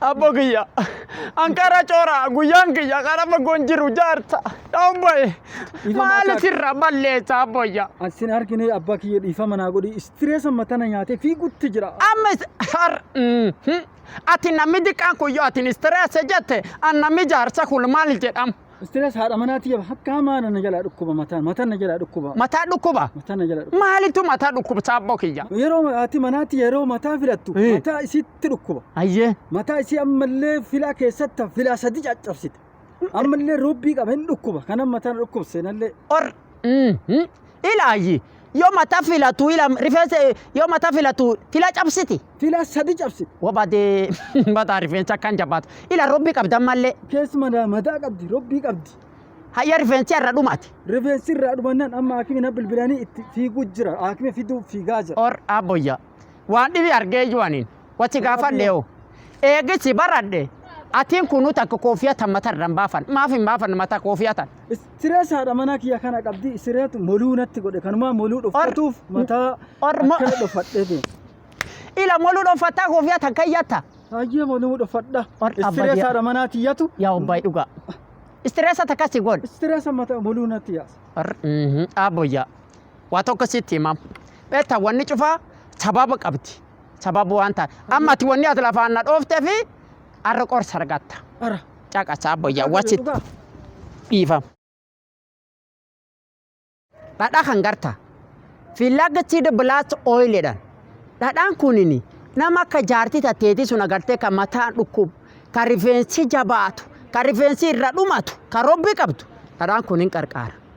Abbo kiyya anqara coora guyyaan kiyya qara fagoon jiru jaarta dhaun ba'e Dhiifama maali akka- sirra balleessa abboyya. Asin argine abbaa kiyya dhiifama naa godhi istireesa matana nyaatee fiigutti jira. Amma is- har mm, hmm. ati namni diqqaan kun yoo ati istireessa jette an namni jaarsa kun maal jedham. Stress haadha manaa tiyya hakkaa maana na jalaa dhukkuba mataa mataan na jalaa dhukkuba Mataa dhukkuba. mataan na jalaa dhukkuba. Maalitu mataa dhukkubsaa abboo kiyya? Yeroo haati manaa tiyya yeroo mataa filattu Eh. mataa isiitti dhukkuba. Ayyee. Mataa isii ammallee filaa keessatti filaa sadi caccabsite. Ammallee roobbii qaba hin dhukkuba kanan mataan dhukkubse nallee. Or Ilaayyi yoo mata filatu ila rifeensa yoo mata filatu fila cabsiti. Fila sadi cabsiti. Wabadee mataa rifeensa akkan jabaatu. Ila robbi qabdan mallee. Keessuma daa mataa qabdi robbii qabdi. Hayya rifeensi irra dhumate. Rifeensi irraa dhumannaan amma haakimi na bilbilanii itti fiiguu jira. Haakimi fiduu fiigaa jira. Or abboyya. Waan dhibi argee iyyuu aniin. Wati gaafadhe hoo. Eegisi baradhe atiin kunuu takka koofiya tan mata irra hin baafan. Maaf hin baafan mata koofiya tan. Istireesaadha mana kiyya kana qabdi isireetu moluu natti godhe kanumaa moluu dhoffatuuf mataa or mo- akkana dhoffadhee deema. Ila moluu dhoffattaa koofiya tan kayyatta. Hayyee moluu dhoffadha. Ol abba Istireesaadha manaa tiyyatu Yaa obbaay dhugaa. Istireesa takka si goon. istireesa mataa moluu natti yaasa. Or- mhm, Abboyyaa. Waa tokko sitti himam. Beektaa wanni cufaa sababa qabdi. sababa waan taate amma ati wanni as lafaan na dhoofte fi arra qorsa argatta Ara. caqasa abbayyaa wasit Dhugaa. dhiifam dhadhaa kan garta fiilagatti bilaat ooyileedhaan dhadhaan kunini nama akka jaartii tatteetii sun agartee kan mataan dhukkubu kan rifeensi jabaatu kan rifeensi irra dhumatu kan robbi qabdu dhadhaan kun hin qarqaara.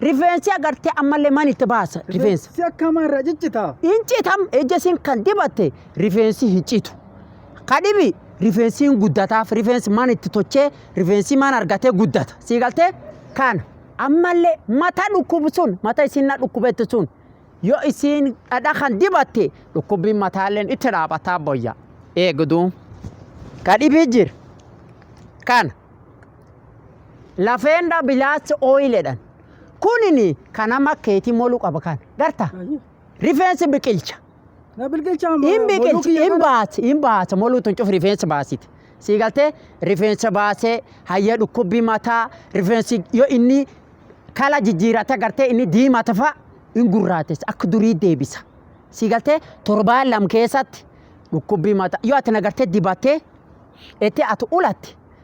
Rifeensi agartee ammallee man itti baasa rifeensa. Si akkamaa irraa ciccitaa. Hin citam ija isin kan dibatte rifeensi hin citu. Kadhibi rifeensi hin guddataaf rifeensi man itti tochee rifeensi man argatee guddata. Sii galtee kana ammallee mata dhukkubu sun mata isin na dhukkubetti sun yoo isin dhadha kan dibatte dhukkubbiin mataalleen itti dhaabataa boyya. Eegduu. Kadhibii jira. Kana. Lafeendaa bilaas ooyiledhan. Kunini kan amma keetii molu qaba kan. Garta? Rifeensi biqilcha. Na bilqilchaa amma. Hin biqilchi, hin baasi, hin baasa. Moluu tun cufi rifeensa baasiti. Sii galtee rifeensa baasee hayya dhukkubbii mataa rifeensi yoo inni kala jijjiirata gartee inni diimata fa'a hin gurraatessa akka durii deebisa. Sii galtee torbaan lam keessatti dhukkubbii mataa yoo ati nagartee dibattee itti ati ulatte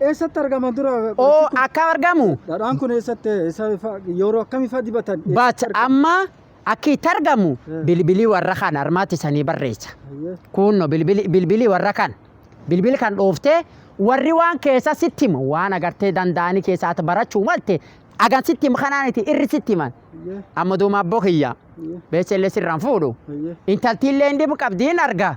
Eessatti argama dura? Oo akkam argamu? Dhadhaan kun eessatti eessa ifa- yeroo akkamii fa'aa dibatan? But amma akka itti argamu Eh. bilbilii warra kan armaatti sanii barreessa. Ayyee. Kunno bilbili bilbili warra kan bilbili kan dhooftee warri waan keessa sitti himu waan agartee danda'anii keessa ati barachuu malte agan sitti himu kanaan itti irri sitti himan. Ayyee. Amma duuma abboo kiyya Ayyee. beesellee sirraan fuudhu. Ayyee. Intaltiillee hin dhibu qabdi hin arga.